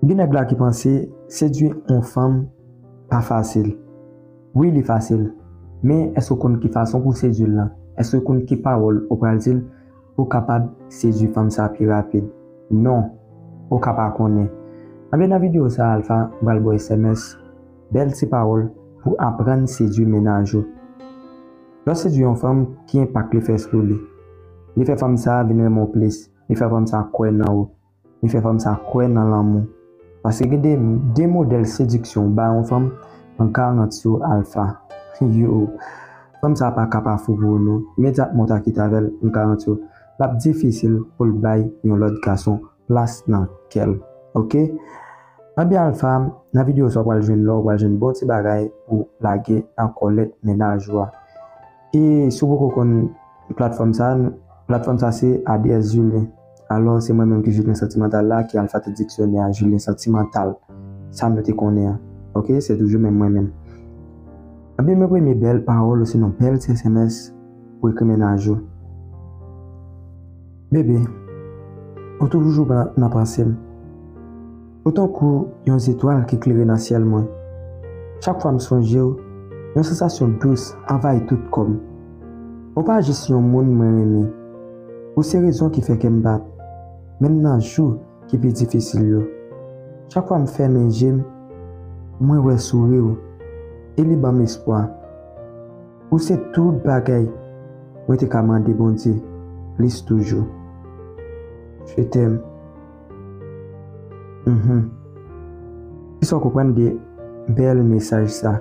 Gen nèg la ki panse sedwi on fanm pa fasil. Wi li fasil, men èske ou konn ki fason pou w sedwi l lan? Èske ou konn ki pawòl ou pral di l pou w kapab sedwi fanm sa pi rapid? Non, ou ka pa konnen. Anben nan videyo sa Alpha pral ba w sms, bèl ti pawòl pou aprann sedwi mennaj ou. Lè w sedwi on fanm, ki enpak li fè sou li? Li fè fanm sa vin renmen w plis, li fè fanm sa kwè nan ou. Li fè fanm sa kwè nan lanmou. Paske gen de de modèl sediksyon w ba yon fanm nan 40 yo alfa. Yoo. Fanm sa pa ka pa fou pou ou non. Imedyatman w ta kite avè l nan 40 yo, l ap difisil pou l bay yon lòt gason plas nan kè l. Ok. Anben alfa, nan videyo sa w pral jwenn lò, w pral jwenn bon ti bagay pou w lage nan kòlèt mennaj ou a. E si w poko konn platfòm sa, platfòm sa se ADS Julien. Alò se mwen menm ki Julien Santimantal la ki al fate diksyonè a Julien Santimantal sa nou te konnen an. Ok, se toujou menm mwen menm. Anben mwen premye bèl pawòl osinon bèl ti sms pou ekri mennaj ou. Bebe, ou toujou nan panse m. Ou tankou yon zetwal ki klere nan syèl mwen. Chak fwa m sonje w, yon sansasyon dous anvayi tout kò m. Ou pa jis yon moun mwen renmen. Ou se rezon ki fè kè m bat, menm nan jou ki pi difisil yo. Chak fwa m fèmen je m, mwen wè souri w e li ban m espwa. Ou se tout bagay mwen te ka mande Bondye plis toujou. Je t'aime. Uhmm kisa w konprann de bèl mesaj sa?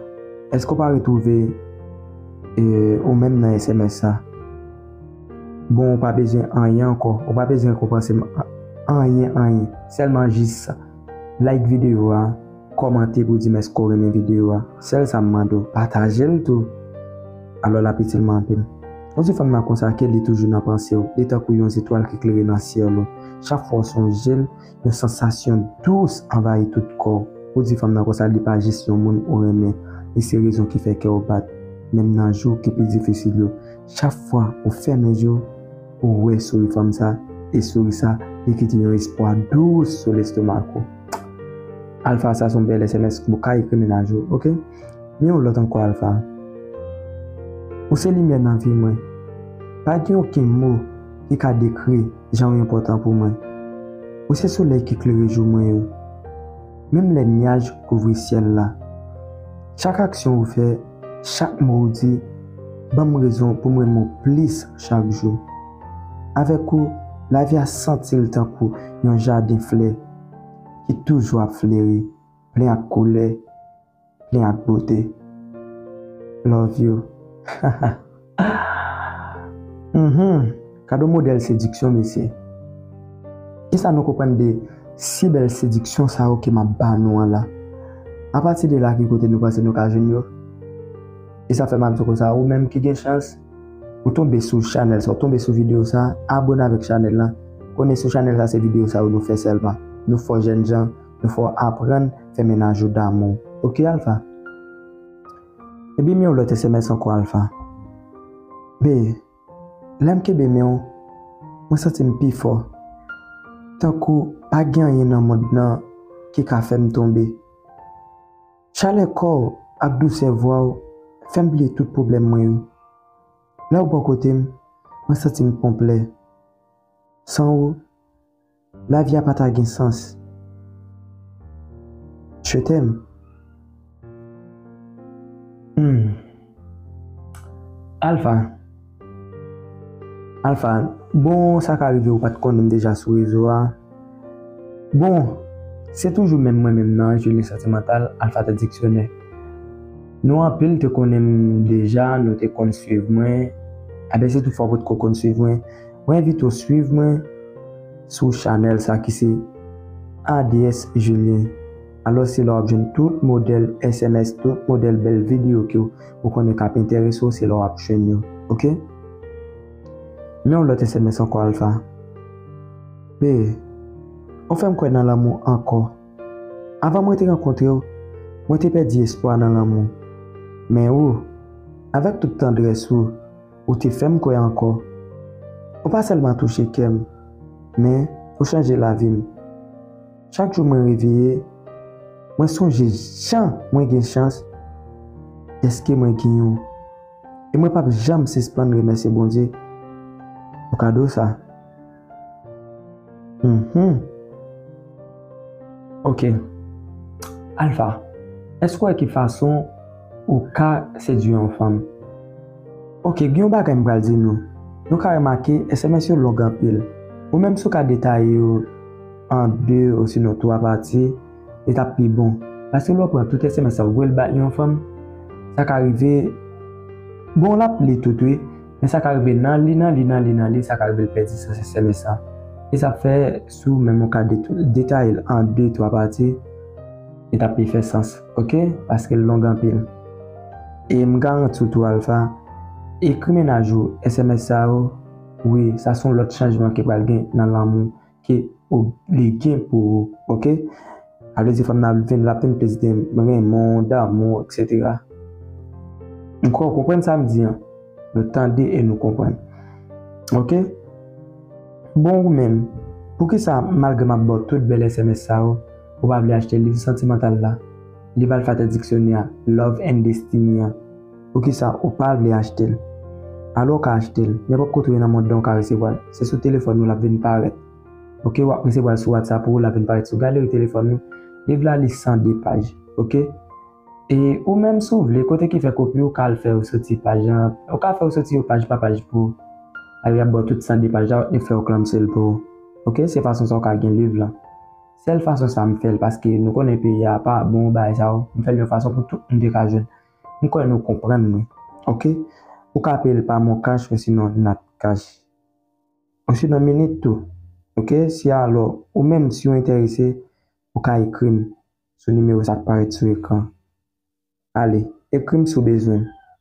Eske w pa retwouve ou menm nan sms sa? Bon ou pa bezwen anyen ankò, ou pa bezwen rekonpanse m anyen anyen sèlman jis like videyo a. Kòmante pou dim eske w renmen videyo a. Sèl sa m mande w, pataje l tou! Alò l ap itil mwen anpil. Ou di fanm nan konsa ke li toujou nan panse w. Li tankou yon zetwal ki klere nan syèl ou. Chak fwa w sonje l, yon sansasyon dous anvayi tout kò w. Ou di fanm nan konsa li pa jis yon moun ou renmen. Li se rezon ki fè kè w bat, menm nan jou ki pi difisil yo. Chak fwa ou fèmen je w, ou wè souri fanm sa, e souri sa, li kite yon espwa dous sou lestomak ou. Alpha sa son bèl sms ou ka ekri mennaj ou ok. Men yon lòt ankò Alpha. Ou se limyè nan vi mwen. Pa gen okenn mo ki ka dekri jan ou enpòtan pou mwen. Ou se solèy ki klere jou mwen yo. Menm lè nyaj kouvri syèl la. Chak aksyon ou fè. Chak mo ou di ban m rezon pou m renmen w plis chak jou. Avèk ou, lavi a santi l tankou yon jaden flè ki toujou ap fleri, plen ak koulè, plen ak bote. Love you. Ahh Uhmm gade modèl sediksyon mesye Kisa nou konprann de si bèl sediksyon sa yo ke map ba nou an la Apati de la ki kote nou panse nou ka jwenn yo E sa fèm ap di w konsa ou menm ki gen chans ou tonbe sou chanèl sa ou tonbe sou videyo sa abone avèk chanèl la konnen sou chanèl sa se videyo sa yo nou fè sèlman nou fè w jènjan nou fè w aprann fè menaj ou damou ok Alpha. Kenbe men w lòt sms ankò Alpha. Bee, lè m kenbe men w, mwen santi m pi fò. Tankou pa gen anyen nan mond nan ki ka fè m tonbe. Chalè kò w ak dousè vwa w fè m bliye tout pwoblèm mwen yo. Lè w bò kote m, mwen santi m konplè. San ou. Lavi a pa ta gen sans. Je t'aime. Humm. Alpha. Alpha. Bon sa ka rive ou pat konnenm deja sou rezo a. Bon Se toujou menm mwen menm nan Angeline Sentimental Alpha The Dictionnaire. Nou anpil te konnenm deja, nou te konn swiv mwen. Aben se tou fwa ou potko konn swiv mwen. Mwen envite w swiv mwen sou chanèl sa ki se ADS Julien. Alos se la wap jwenn tout modèl sms, tout modèl bèl videyo ke ou konnen kap enterese w, se la wap jwenn yo. Ok? Men yon lot sms anko Alpha. Bee, ou fèm kwè nan lanmou anko. Avan mwen te rankontre w, mwen te pèdi espwa nan lanmou. Men ou, avèk tout tandrès ou, Ou te fè m kwè ankò. Ou pa sèlman touche kè m, men ou chanje lavi m. Chak jou mwen reveye, mwen sonje jan mwen gen chans dèske mwen gen ou. E mwen pap janm sispann remèsye Bondye pou kado sa. Uhmm ok Alpha èske w wè ki fason ou ka sedwi yon fanm? Ok gen yon bagay m pral di nou, nou ka remake sms yo long anpil ou menm si w ka detaye yo an 2 osinon 3 pati li t ap pi bon paske lè w pran tout sms sa w voye l bay yon fanm sa ka rive bon l ap li tout wi. Men sa ka rive nan li, nan li, nan li, nan li, sa ka rive l pèdi sa, se sèl e sa. E sa fè, si ou menm ou ka detaye l an de, twa pati, li t ap pi fè sans, oke, paske l long anpil. E m garanti w tou Alpha, ekri menaj ou sms sa yo, wi, sa s on lòt chanjman ki pral gen nan lanmou. ke ou li gen pou ou ok avle di fanm nan ap vin lap vin plis gen renmenw damouw etc m kwè ou konprann sam di an nou tande e nou konprann ok bon ou menm poukisa malgre map baw tout bèl sms sa yo ou pa vle achte liv santimantal la liv alfate diksyonè love and destiny an. Poukisa ou pa vle achte l? Alò ou ka achte l, nenpòt kote ou ye nan mond lan ou ka resevwa l. Se sou telefòn ou l ap vin parèt. Ok w ap resevwa l sou WhatsApp ou, l ap vin parèt sou galeri telefòn ou. Liv la li 102 paj. Ok. E ou menm si w vle, kote ki fè kopi ou ka al fè yo soti paj an, yo ka fè yo soti yo paj pa paj pou ou. Alò y ap ba w tout 102 paj la, yo fè yo klamse l pou ou. Ok, se fason sa ou ka gen liv lan. Sèl fason sa m fè l paske nou konnen peyi a pa bon bagay sa yo, m fè l yon fason pou tout moun te ka jwenn. M kwè nou konprann mwen ok ou ka ape l pa moncash osinon natcash osinon minit tou ok si alò ou menm si w enterese ou ka ekri m sou nimewo sa k parèt sou ekran ale ekri m si w bezwen m.